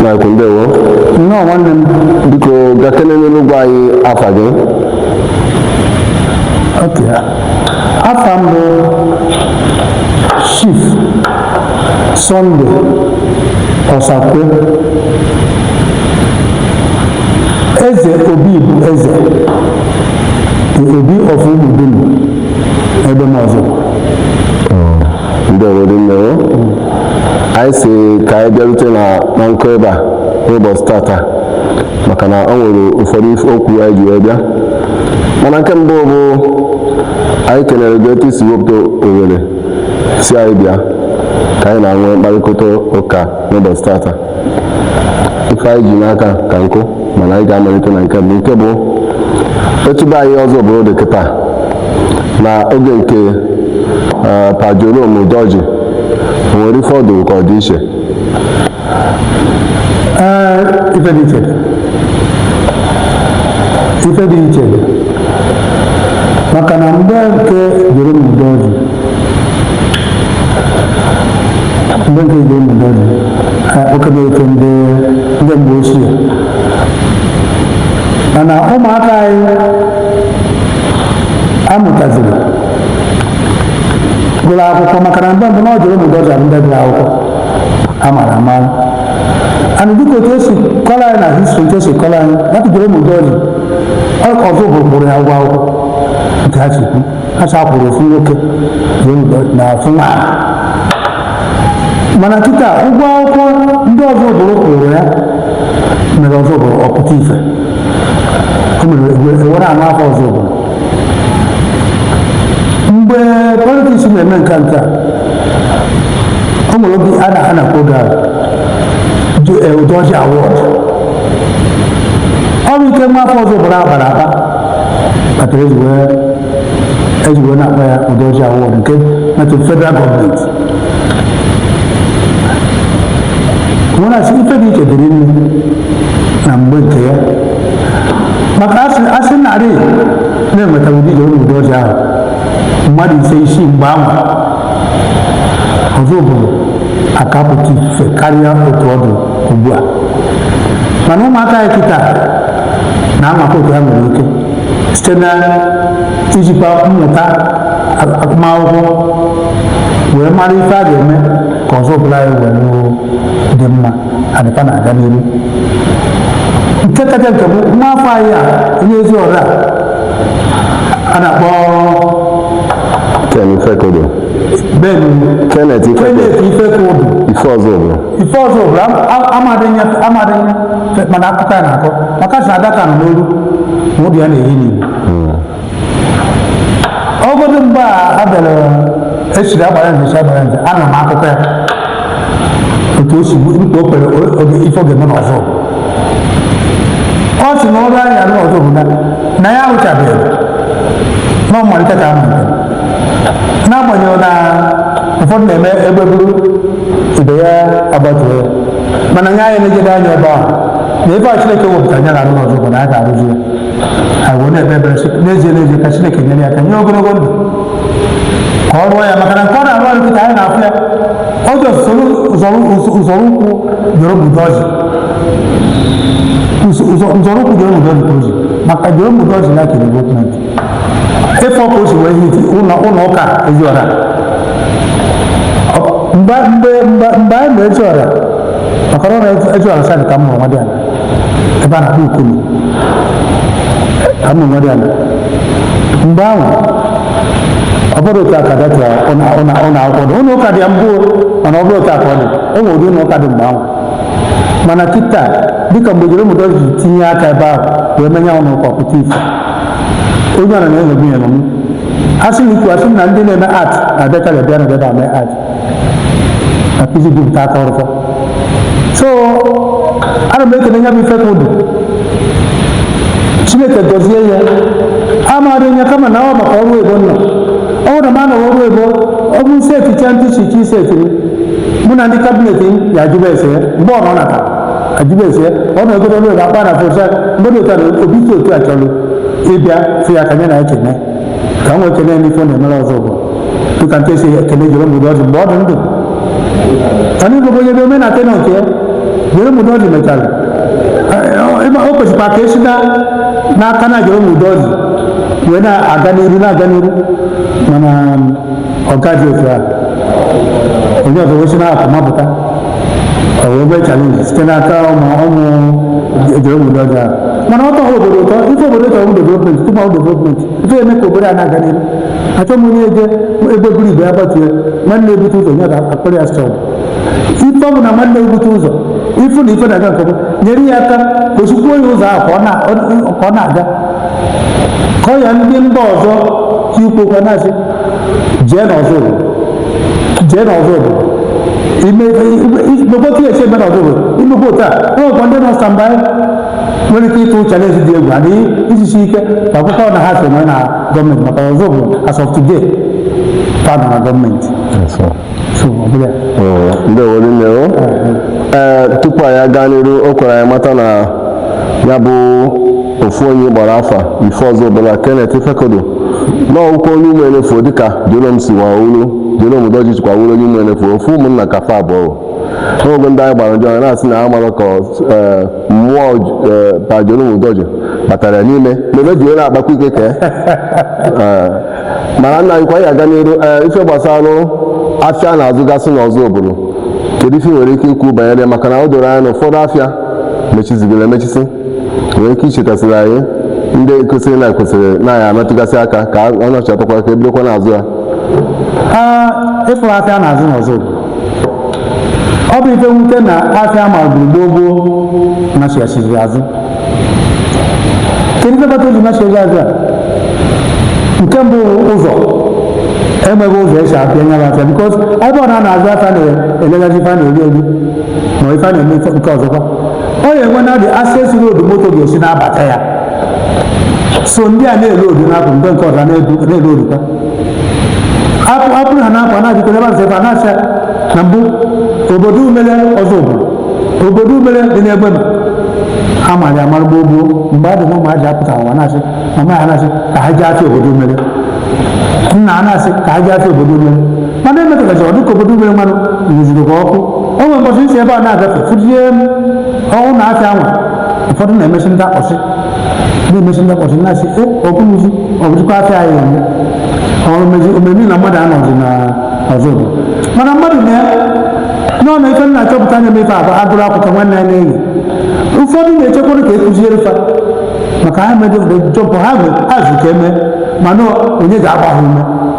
Mike ndewo nnọọ nwanne m biko gaa kenenụ gwa anyị afa gị okay afa m bụ chief Sunday Osakwe eze obi bụ eze obi of Ụmụdulu Egbema Ọzụ ndewo rinne o anyị sị ka anyị bịarute na na nkụ ebe a n'ụbọchị tata maka na ọ nwere ụfọdụ ife okwu anyị ji wee bịa mana nke mbụ bụ anyị kelere gị etu i si wepụta ohere sị anyị bịa ka anyị na-enwe mkparịkọta ụka n'ụbọchị tata ife anyị ji n'aka ka nkụ mana anyị ga-amalite na nke mbụ nke bụ etu be anyị Ọzụbụlụ dị kịta na oge nke eh, Pa Jerome Udoji o nwere ife ọ dụ ka ọ dị iche ee ife dị iche ife dị iche maka na mgbe nke Jerome Udoji ndị nke Jerome Udoji oke na-eto ndị ndị mgbe ochie mana ụmụaka anyị amụtaziri gụrụ akwụkwọ maka na mgbe mbụ na ọ Jerome Udoji ha bụ ndị gụrụ akwụkwọ a mara amara and dịka otu e si kọrọ anyị na history nke e si kọrọ anyị na Jerome Udoji Ọzụbụlụ kwụrụ ya ụgwọ akwụkwọ nke ha si kwu ha chakwuru ofu nwoke na ofu nwaanyị mana kịta ụgwọ akwụkwọ ndị Ọzụbụlụ kwụrụ ya mere Ọzụbụlụ ọ pụta ife o mere e were nwa afọ Ọzụbụlụ mgbe politics na-eme nke nke o nwere oge a na a na-akpọ Udoji Award ọ bụ ike nwa afọ Ọzụbụlụ kpara akpa kpatara e ji wee e ji wee na-akpọ ya Udoji Award nke metụ federal gọọmenti nwere asị ife dị iche dị rinne na mgbe nke ya maka a sị a sị na a rị na-enweta ụdị Jerome Udoji ahụ mmadụ ise isii mgbe ahụ Ọzụbụlụ aka-apụta ife karịa otu ọ dụ ugbu a mana ụmụaka anyị kịta na-anwakọ otu ha nwere ike site na ijikwa mmụta agụmakwụkwọ wee mara ife a ga-eme ka Ọzụbụlụ anyị were dị mma adịpa na-aga n'ihu nke kacha nke bụ nwa afọ anyị a onye Eziọra a na-akpọ Ken Ifekudu. Ben Kenneth Ifekudu. Ife ọzọ bụ. ife ọzọ bụrụ amadị nya amadị nya mana akụkọ ya na-akọ maka a sị adaka nọ n'olu ma ude ya na-ehi n'igbo ọgọdụ mgbe a bịara esiri Agbalanze Agbalanze ana m akụkọ ya otu o si mkpa o kwere oge ife ọ ga-eme n'Ọzụ ọ sị na ọrụ a nya rụ n'Ọzụbụlụ na ya arụchabeghị na ọ mmalite ka a malite n'agbanyeghị na ụfọdụ na-eme egbe buru ibe ya agbatuo ya mana nya anyị na-ejede anya ebe ahụ na ebe a chineke wepụtara nya na-arụ n'Ọzụbụlụ na a ga-arụzi ya anyị wee na-ekpe ekpere sị n'ezie n'ezie ka chineke nyere ya aka nye ogologo ndụ ka ọ rụọ ya maka na nke ọ na-arụ ọrụ kịta anyị na-afụ ya ọ dị usoro nzọrọ ụkwụ Jerome Udoji nzọrọ ụkwụ Jerome Udoji ka o ji maka Jerome Udoji na kere development ị fụ ka o si wee hiti ụlọ ụka Eziọra mgbe mgbe mgbe mgbe anyị ma Eziọra maka na Eziọra sadị ka m bụrụ nwadịala ebe a na-akpọ Ukulu ka m bụrụ nwadịala mgbe ahụ ọ bụrọ otu a ka ọ dị ụlọ akwụkwọ dị ụlọ ụka dị ya mbụ mana ọ bụrọ otu a ka ọ dị o nwere ụdị ụlọ ụka dị mgbe ahụ mana kịta dịka mgbe Jerome Udoji tinye aka ebe ahụ wee mee nya ụlọ ụka pụta ife onye ọna na-enwebu ya m asị m ikwu asị m na ndị na-eme art na-abịakarị abịa na-abịa mee art na pizi bụ nke aka ọrụkọ so ana m ekele nya bụ Ifekudu chineke gọzie ya amadị nya kama na ọ maka ọrụ ebo nọ ọ bụrụ na m anọghị ọrụ ebo ọ bụ isi echicha ntị chichi isi etiri mụ na ndị kabinet ya ajụba ese ya mgbe ọ nọ nata ajụba ese ọ na ogoro lori akpa na fosa mmadụ ụtara obi si otu a chọrọ ịbịa fụ ya ka e nye nya ekene ka nwa ekene n'ife ọ na-emere Ọzụbụlụ dịka nke e si ekene Jerome Udoji mgbe ọ dị ndụ anyị bụ onye dị omenala tena nke Jerome Udoji mechara ịma o kwesịkwa ka esi na n'aka na Jerome Udoji wee na-aga n'iru na-aga n'iru mana ọ gaghị otu a onye ọzọ wee si na-apụ mapụta o wee bụrụ chalenji site n'aka ụmụ ụmụ ejere obodo ọjọọ ahụ. mana ọ tọghị obodo ụtọ ife obodo chọrọ bụ development tupu ahụ development ife eme ka obodo a na-aga n'ihu achọ m onye eje ebe buru ibe ya gbatue nwanne ebute ụzọ nye ga-akpọrọ ya strọg ife ọ bụ na nwanne ebute ụzọ ifu na ife na-aga nke ọma nyere ya aka gosikwuo ya ụzọ ahụ ka ọ na- ọ- ka ọ na-aga ka ọ ya ndị mba ọzọ ka ikwekwa na-asị jee n'Ozubulu jee na Ozubulu imekwa otu esi eme na Ozubulu imekwa otu a enwekwa ndị nọ standby nwere ike ịtụ chalenji dị egwu adị ijisi ike ka akwụkwọ na ha so nwee na gọọmenti maka Ozubulu as of today ka nọ na gọọmenti so ọ bụla ndewo rinne o ee tupu anyị aga n'iru o kwere anyị mata na ya bụ ofu onye kpọrọ afa ife Ozubulu Kenneth Ifekudu na ọ bụkwa onye ụmụ enefu dịka Jerome si nwa olu Jerome Udoji sikwa wuru onye ụmụ enefu ofu ụmụnna ka fa abụọ n'oge ndị anyị gbara njọ anyị na-asị na amarọ ka eh, mmụọ eh, pa Jerome Udoji batara ya n'ime mebe ji onye akpakwa ike ka eh, mana nna anyị ka anyị gaa n'iru eh, ife gbasara afịa na-azụgasị n'Ozubulu kedu ife ị nwere ike ikwu banyere ya? maka na o doro anya na ụfọdụ afịa mechizigoro emechisi nwere ike ichetasịrị anyị ndị kwesịrị na kwesịrị na anyị emetụgasị aka ka ọ nọchịatakwa ka ebidokwa na-azụ ya ịfụrụ afịa na-azụ n'Ozubulu ife nwute na afịa ma gburugburu gboo gboo nachighachiri azụ kedu ife kpata o ji nachighachiri azụ a nke mbụ ụzọ enweghị ụzọ esi abịa nya afịa bikos ebe ọ na-azụ afịa na-eleghazi ife a na-eri eri ma ife a na-eme nke ọzọkwa ọ ya enwe na dị access road moto ga-esi na-abata ya so ndị a na-ele odu na-apụ mgbe nke ọzọ na-ele odu ka apụ apụrụ ha na-apụ na-ajụkọ ebe azụ ebe a na-asị na mbụ obodo umele Ozubulu obodo umele dị n'Egbema amara amara gboo gboo mgbe a dị na ụmụazị apụta ụwa na-asị mama ya na-asị ka ha jee afịa obodo umele nna a na-asị ka ha jee afịa obodo umele mana emetụtazi ọ dịka obodo umele mmanụ nyụziri ka ọkụ o nwere mbọchị isi ebe a na-agafe fụjie m ọnwụ na afịa anwa ụfọdụ na-emesi ndị akpọsị na-emesi ndị akpọsị na-asị e ọkụ nyezi ọ bụzikwa afịa anyị eme ọrụ mezi omeme na mmadụ anọzi na Ozubulu mana mmadụ na nọọ na ife m na-achọpụta anya m ife abụ agụrụ akwụkwọ nwanne ya na-eyi ụfọdụ na-echekwara ka ekụziere fa maka ha mejọ jọpụ ha bụ ha zụ ka eme mana onye ga-agba ha ume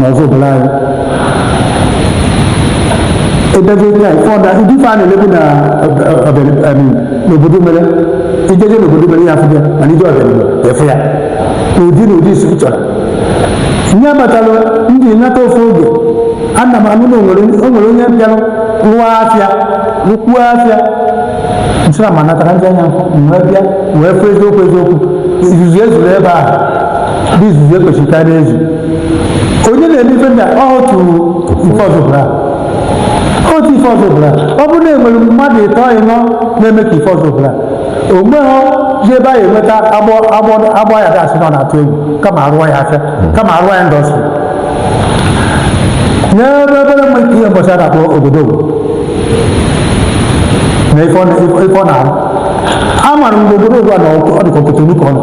n'ọzụbụlụ anyị edebe taa ife ọda ndị ife a na-elebu na n'obodo mere ijeje n'obodo mere ya afụ ya mana ije ọzụbụlụ ị fụ ya n'ụdị na ụdị isi chọrọ ihe abatala m ntị nata ofu oge ana m anụ na onwere onye bịara rụọ afịa rụkwuo afịa n'eziora mana taa ka m ji anya m wee bịa wee fụ eziokwu eziokwu izuzu ezuru ebe ahụ bụ izuzu ekwesịrị ka a na-ezu onye na-eme ife ndị a ọ otu ife ọzụbụlụ otu ife ọzụbụlụ ọ bụrụ na enwere mmadụ ịtọ ịnọ na-eme ka ife ọzụbụlụ o nweghọzi ebe a ga-enweta agbọ agbọ agbọ ya gasị nọ na-atụ egwu kama arụọ ya afịa kama arụọ ya indọstrị n'ebe ebere mgbe nke ihembọsị a na-akpọ odogwu na ife ọ na- ife ọ na-arụ a mara mgbe odogwu a na ọ dịka kotonu ka ọ nọ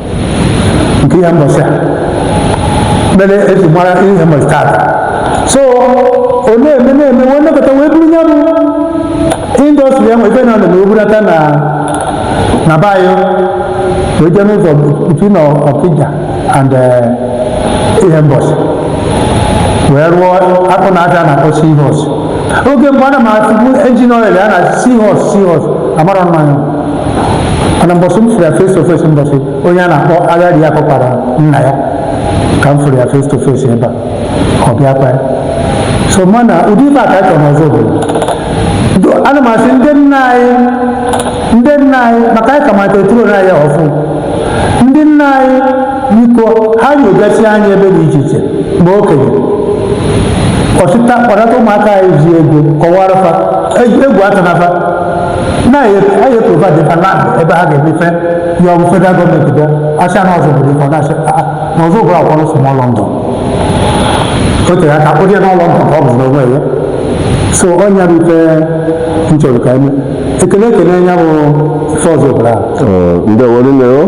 nke ihembọsị a mere eji mara ihembọsị taata so ọ na-eme na-eme wee nekọta wee buru ya bụ indọstrị ya nweta na ọ na-eme o bulata na na be anyị wee jee n'ụzọ between ọkija and eh, ihembọsị wee rụọ akpụ na aja na-akpọ seahorse oge mgbe ana m atụbu engine oil a na seahorse seahorse amarọ m ma ọ nya mana mbọsị m fụrụ ya face to face mbọsị onye a na-akpọ agadi ya kọkwara nna ya ka m fụrụ ya face to face ebe a ọ bịakwa ya so mana ụdị ife a ka anyị chọrọ n'ọzụbụlụ ana m asị ndị nna anyị ndị nna anyị maka anyị ka mata eturo na ya ọfụ ndị nna anyị biko ha nyegasị anyị ebe dị iche iche ma okenye ọchịta kpọnata ụmụaka anyị ji ego kọwara fa egwu atụna fa na anyị eprovide ha land ebe ha ga-eme ife ya ọ bụ federal gọọmenti bịa asị na ọzụbụlụ ife na-asị na ọzụbụlụ akpọrọ small lọndọn o tere aka a kpọrọ ya na lọndọn ka ọ bụzi n'onwe ya so ọ nya bụ ife m chọrọ ka m kele ekele ya bụ ife ọzụbụlụ ahụ ndeewo rinne o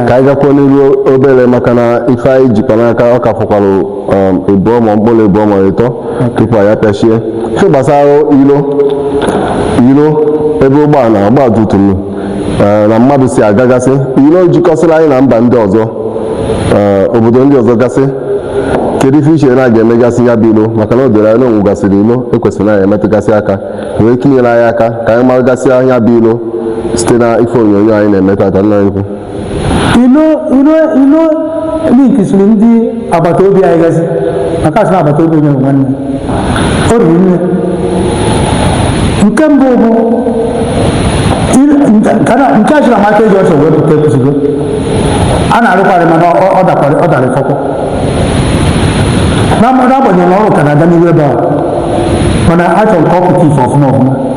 ka anyị gakwuo n'iru obere maka na ife anyị jikwa n'aka ọ ka fọkwara um, ịbụọ ma mkpụrụ ịbụọ ma ịtọ tupu anyị apịachie ihe gbasara ilo ilo ebe ụgbọala ọgba tum tum eh, na mmadụ si agagasị ilo jikọsịrị anyị na mba ndị ọzọ eh, obodo ndị ọzọ gasị kedu ife i che na a ga-emegasị ya bụ ilo maka na o doro anya na onwegasịrị ilo ekwesịrị na anyị emetụgasị aka nwee ike inyere anyị aka ka anyị maragasịa nya bụ ilo site na ife onyonyo anyị na-eme taata nna ukwu ilo ilo ilo linkisiri ndị agbata obi anyị gasị maka asị na agbata obi onye bụ nwanne o riri nne nke mbụ bụ il- nke nke a na- nke a chịrị Amakwa eji ọsọ wee pụta Ekwusigo a na-arụkwarị mana ọ- ọ dakwara ọ dara ịfọkwọ n'agbanyeghị na ọrụ ka na-aga n'ihu ebe a mana achọrọ ka ọ pụta ife ọfụma ọfụma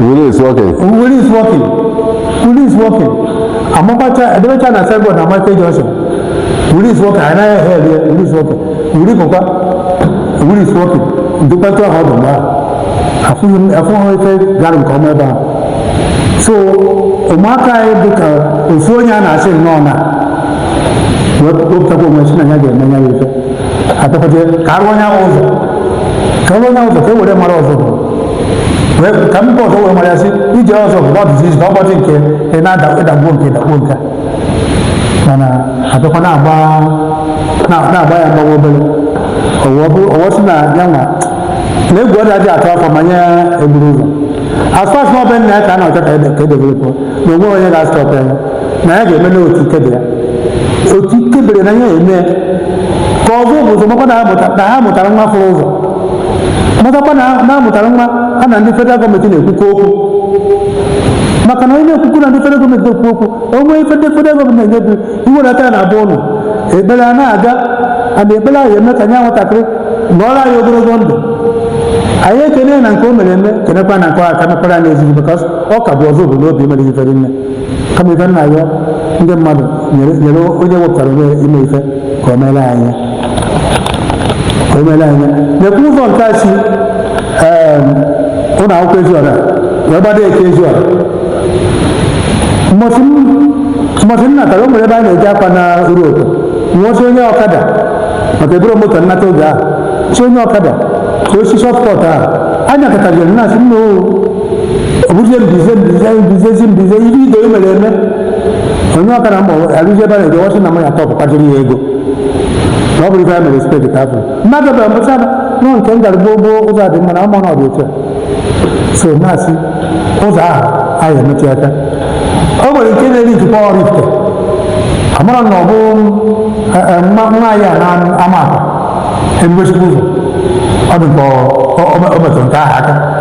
Willie is working. Willie is working. Willie is working. Amapacha Edemecha na signboard na Amakwa junction. Willie is working. Anaghị ehe ehe Willie is working. Willie bụkwa Willie is working. Ndụkpata ọha ọdụ mgbe ahụ. Afụghị m afụghị ife gara nke ọma ebe ahụ. So ụmụaka anyị dị ka ofu onye a na-asị nnọọ na wepụtakwa onwe sị na ya ga-eme ya ife. Atọkọta ka arụ onye ahụ ụzọ. Ka arụ onye ahụ ụzọ ka e were mara ọzọ. wee ka mba ọzọ wee mara sị ije Ọzụbụlụ dịzi easy ọ bụrọdị nke ị na-adagbuo nke dagbuo nke mana abịakwa na-agba na- na-agba ya mgbawa obere ọwụwa bụ- ọwụwa sị na ya nwa na egwu adịghị atụ afọ ma nya eburu ụzọ as far as na ọ be nna ya ka a na-achọ ka e de- ka e developụọ na o nweghị onye ga-astọpụ ya na ya ga-eme n'otu ike be ya otu ike bere na ya eme ka Ọzụbụlụ makwa na ha mụta- na ha mụtara nwa fụrụ ụzọ matakwa na ha- na ha mụtara nwa ha na ndị federal gọọmenti na-ekwukọ okwu maka na onye na-ekwukọ na ndị federal gọọmenti na-ekwu okwu o nwere ife ndị federal gọọmenti na-enyebu i welata ya na abụ ụlọ ekpere a na-aga ana ekpere ahụ eme ka nya nwatakịrị nọọrọ anyị ogologo ndụ anyị ekene na nke o mere eme kenekwa na nke ọ aka mekwara anyị ezigbo maka ọ ka bụ ọzọ obodo obi emere ife dị nne kama ife na-ayọ ndị mmadụ nyere nyere onye wepụtara onwe ya ime ife ka o meere anyị ya. ka o meere anyị ya. na-ekwu ụzọ nke a si em, ụlọ akwụkwọ Eziọra wee gbado Eke Eziọra mbọsị m- mbọsị m natara o nwere ebe a na-eje akwa na uru ụtọ m wee sị onye ọkada maka eburọ m moto nata oge ahụ sị onye ọkada ka o si shortcut ahụ anyị katagoro na asị nna o ọ bụzie mbize mbize mbizezi mbize ihe ide mere eme onye ọkada m gbaruzi ebe a na-eje ọ sị na m ya-atọpụtara ya ego na ọ bụrụ ife ya mere steeti ka afọ mmadụ bụ mbụcha nọ nke m gara gboo gboo ụzọ dị mma na ama na ọ dị otu a so na-asị ụzọ ahụ anyị emechi aka o nwere nke na-eri ntụpọ Ọraifite amara na ọ bụ eh, eh, nwa nwa anyị a na Amakwa emegosikwa ụzọ ọ dị ka ọ- ọ- ọ metụrụ nke ahụ aka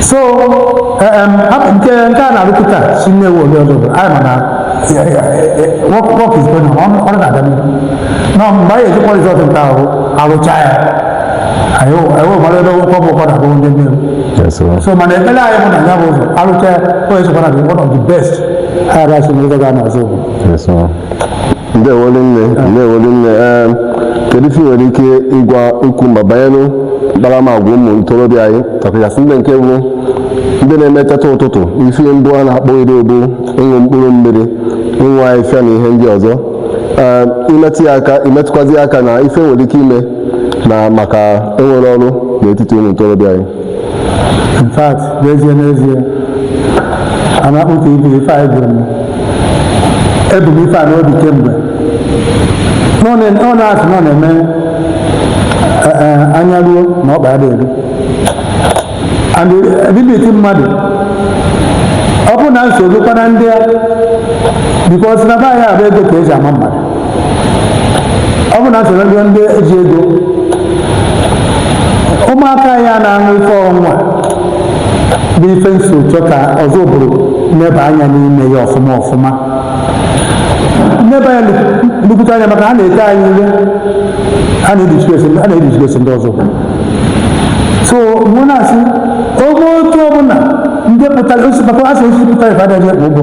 so nke nke a na-arụpụta si nnewi lue ozubulu anyị mana work is going on ọrụ na-aga n'ihu na mgbe anyị ejikwa rizọt nke ahụ arụcha ya anyị mara ebe ụkwọ bụ ụkwọ na-abụ ndị nnewi so mana ekpere anyị bụ na ya bụ ụzọ arụcha ya o esokwa na one of the best ha ga-asị na ụzọ ga-anọ ozubulu ndewolu nne ndewolu nne ee kedu ife ị nwere ike ịgwa ikwu mba banyere mkparamagwa ụmụ ntorobịa anyị ọkachasị ndị nke bụ ndị na-emeteta ụtụtụ ife mbụ a na-akpọ iri ọ bụ ịṅụ mkpụrụ mmiri ịṅụ ahịhịa na ihe ndị ọzọ ee imetụ ya aka imetụkwazi aka na ife e nwere ike ime na maka enwerọ ọrụ n'etiti ụmụ ntorobịa anyị in fact n'ezie n'ezie a na-akpụ ka ibu ife anyị gwuru m ebu m ife a n'obi kemgbe na ọ na- ọ na-asị na ọ na-eme eh, eh, anya ruo na ọkpa adịghị eru and ability mmadụ ọ bụ na nsogbu kpara ndị a because na be anyị abụ ego ka eji ama mmadụ ọ bụ na nsogbu ndị ndị ji ego ụmụaka ya na-aṅụ ife ọnwa bụ ife m so chọọ ka ozubulu neba anya n'ime ya ọfụma ọfụma neba ya nnukwute anya maka ha na-ete anyị ihe ha na-edisgrace ndị ozubulu so mụ na-asị oge otu ọbụla ndị pụtara osi maka asị osi pụtara ife adịghị ekpo ụgwọ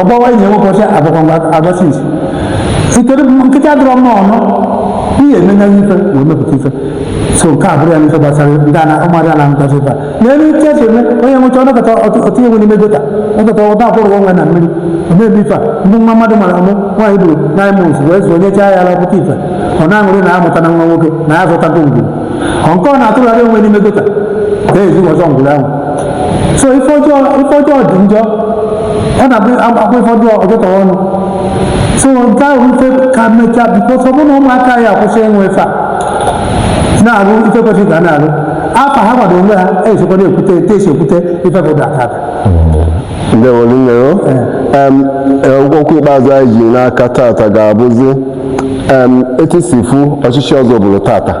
ọgbawa enyi nwoke ọcha agwakwa agwasị isi ikere nkịta dọrọ mma ọnụ ihe emenye ife wee mepụta ife so nke a bụrụ ya n'ife gbasara ndị ana ụmụazị ana nkọta ife a n'elu ike esi eme onye ṅụcha ọ nọkata ọ tụnye onwe n'ime gutter ọkọta ọba akwụrụ onwe na mmiri o mebi ife a ndị nwa mmadụ mara amụ nwaanyị buru nine months wee zụọ nyechaa ya ala ọkụkọ ife ọ na-aṅụrị na ya amụtana nwa nwoke na ya zụtago ngwuru ọ nke ọ na-atụgharị onwe n'ime gutter ezi ọzọ ngwuru ahụ so ife ọjọọ ife ọjọọ dị njọ ọ na-abụ akwa ife ọjọọ ọ jọtọ ọnụ so nke ahụ ife ka mechaa because ọ bụ na ụmụaka ya akwụsị ịṅụ ife a na-arụ ife kwesịrị ka ha na-arụ afa ha gbado onwe ha esokwa na-ekwute etu esi ekwute ife bụ dakata ndewolu nne o Em, eh, okwu ikpeazụ anyị ji n'aka tata ga-abụzi em, etu i si fụ ọchịchị ozubulu tata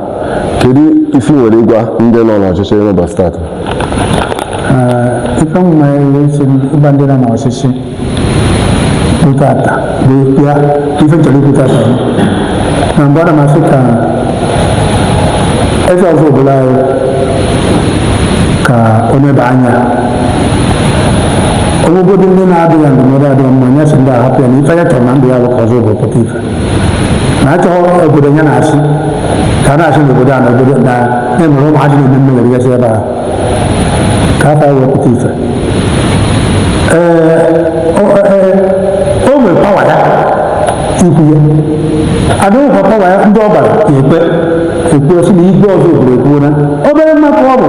kedu ife ị nwere ịgwa ndị nọ n'ọchịchị n'ụbọchị tata ife mma esi ịgwa ndị nọ n'ọchịchị bụ tata bụ ya ife m chọrọ ikwu tata bụ na mbụ ana m asị ka eze ozubulu anyị ka o neba anya o nwegodu ndị na-adụ ya ndụmọdụ adịghị mma nya sị ndị a hapụ ya na ife ya chọrọ na ndụ ya bụ ka ọzụbụlụ pụta ife na achọghị obodo ya na-asị ka a na-asị n'obodo a na obodo na na-emere ụmụ adịghị eme mmiri gasị ebe ahụ ka afọ wee pụta ife ee o nwere pawa ya ikwu ya adịghịkwa pawa ya ndị ọ gbara ekpe ekwu sị na igwe ọzụbụlụ ekwuo na obere nwa ka ọ bụ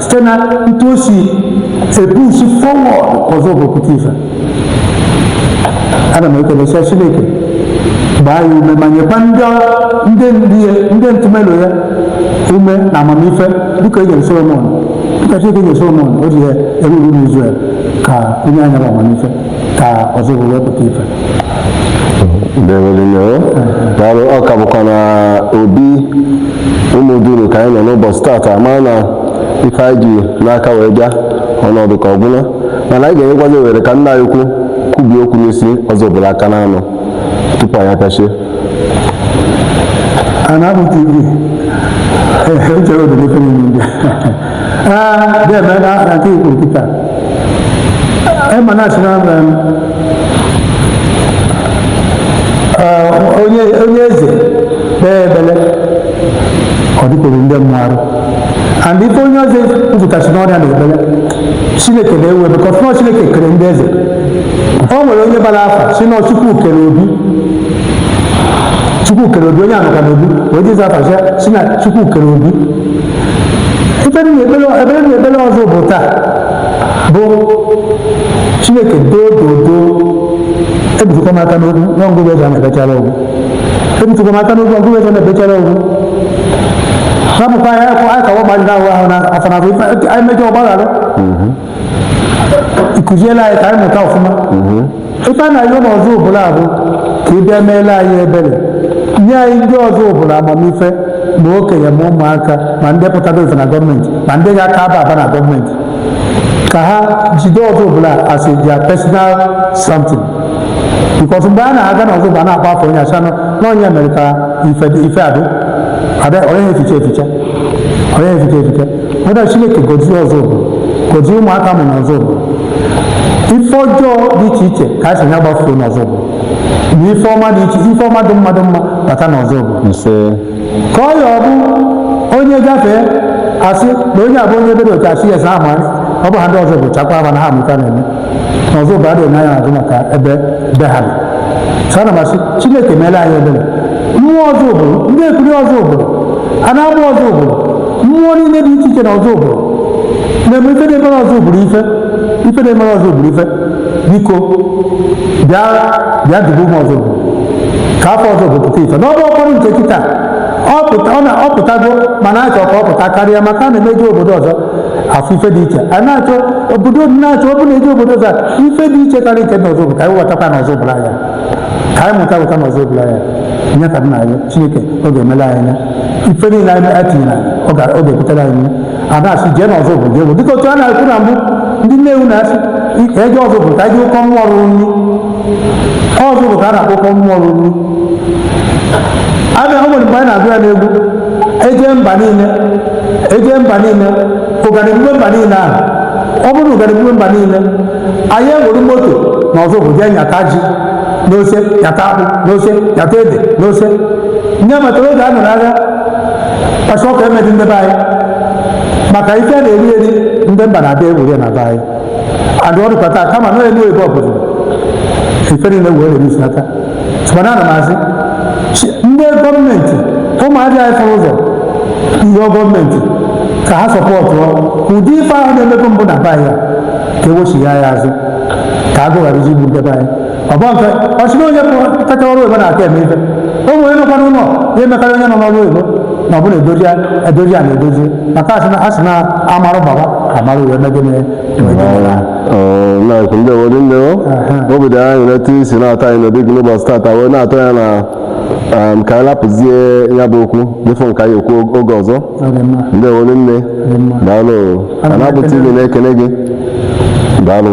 site na etu o si e-push forward ọzụbụlụ pụta ife ana m ekele sị chineke gbaa ya ume ma nyekwa ndị ndị ndị ya ndị ntụmelo ya ume na amamife dịka e nyere solomon dịka chineke nyere solomon o ji ya e-rule n'izrel ka o nye ha nya bụ amamife ka ọzụbụlụ wee pụta ife dewelino daalụ ọ ka bụkwa na obi ụmụ duru ka anyị nọ n'ụbọchị tata mana ife anyị ji n'aka wee bịa ọnọdụ ka ọ gwụla mana anyị ga-enyekwazi ohere ka nna anyị ukwu kwubie okwu n'isi ọzụbụlụ aka n'anọ tupu anyị apịachie nya bụ tv echere obodo ife niile ndị a deme na afọ nke i kwuru kịta ị ma na a sị na onye onye eze kpee ekpele ọ dịkwuru ndị mmụọ arụ and ife onye eze nzụtasị n'ọrịa na ebele chineke na-ewe because na ọ chineke kere ndị eze o nwere onye baara afa sị na chukwu kere obi chukwu kere obi onye a nọ ka n'obi wee jezi afa sị na chukwu kere obi ekpere na-ekpere ọzụbụlụ taa bụ chineke doo doo doo ebitukwa m aka n'okwu nwa ngụgụ ego na-ebechara okwu ebitukwa m aka n'okwu ngụgụ ego na-ebechara okwu hapụkwa ya akwa akawa ma ndị ahụ ahụ na afanafụ anyị mejọ ọ gbaghara kụziela anyị ka anyị mụta ọfụma ife a na-ayọ n'ọzụbụlụ bụ ka ị bịa meela anyị ebere nye anyị ndị ọzụbụlụ amamife ma okenye ma ụmụaka ma ndị pụtara ife na gọọmenti ma ndị ga-aka aba aba na gọọmenti ka ha jide ọzụbụlụ as a their personal something because mgbe a na-aga n'ọzụbụlụ na-akpa afọ onye asị na ọ nya mere ka ife ife adị ada onye eficha eficha onye eficha eficha Ada Chineke gọzie Ọzụbụlụ gọzie ụmụaka a mụ na Ọzụbụlụ ife ọjọọ dị iche iche ka anyị sị nya gbafuo n'Ọzụbụlụ na ife ọma dị iche ife ọma dị mma dị mma bata n'Ọzụbụlụ nse ka ọ ya ọ bụ onye gafee asị na onye a bụ onye ebee otu asị ya sa ama ọ bụ ha ndị Ọzụbụlụ chakwa aba na ha amụta na-eme na ọzụbụlụ adịghị n'anya azụ maka ebe be ha nọ so ana m asị chineke meela anyị ebere mmụọ ọzụbụlụ ndekwuli ọzụbụlụ a na-agba ọzụbụlụ mmụọ niile dị iche iche na ọzụbụlụ na-eme ife na-emere ọzụbụlụ ife ife na-emere ọzụbụlụ ife biko bịa bịa dube ụmụ ọzụbụlụ ka afa ọzụbụlụ pụta ife n'ọba ọkpọrọ nke kịta ọ pụta- ọ na- ọ pụtago mana achọ ka ọ pụta karịa maka a na-emeje obodo ọzọ afụ ife dị iche a na-achọ obodo na-achọ ọ bụ na eje obodo ọzọ ife dị iche karịa nke na ọzụbụlụ ka anyị wetakwa na ọzụbụlụ ya ka anyị mụta weta na ọzụbụlụ ya nye ka nna anyị chineke ọ ga-emela anyị ya ife niile anyị anyị tinyere anyị, ọ ga- ọ ga-ebutere anyị ya. a na-asị jee na ọzụbụlụ jee bụ dịka otu a na-ekwu na mbụ ndị nnewu na-asị ka eje ọzụbụlụ ka anyị jee ụkọ mmụọ rụrụ nri ọzụbụlụ ka a na-akpọ ụkọ mmụọ rụrụ nri abịa o nwere mgbe anyị na-agụ ya n'egwu eje mba niile eje mba niile ụganị gbube mba niile ahụ ọ bụrụ na ụganị gbube mba niile anyị ewere moto na ọzụbụlụ jee nyata ji n'ose nyata akpụ n'ose nyata ede n'ose onye matara oge a nọ n'agha kwashiorkor emedi ndị be anyị maka ife na-eri eri ndị mba na-abịa ewere na be anyị adụ ọ dụkwa taa kama na elu ebe ọ bụla ife niile wee na-erusi aka mana ana m asị chi- ndị gọọmenti ụmụadị anyị fụrụ ụzọ rịọ gọọmenti ka ha support ụdị ife ahụ na-emebe mbụ na be anyị a, ka ewechigha ya azụ ka agụụ gharazie igbu ndị be anyị ọ bụ nke ọchịrị onye kacha ọrụ oyibo na-aka eme ife o nwere nọkwa n'ụlọ ya emekarị onye nọ n'ọrụ oyibo na ọ bụla edozi ya edozi ya na edozi maka asị na asị na amarụ baba amarụ wee megide na-asị ndekwuli nne obi dị anyị aṅụlị etu i si nabata anyị n'obi gị n'ụbọchị tata wee nabata anyị na um, ka anyị lapụzie ya bụ okwu dịfụ nke anyị ekwu oge ọzọ ndekwuli nne daalụ anambra tv na-ekene gị daalụ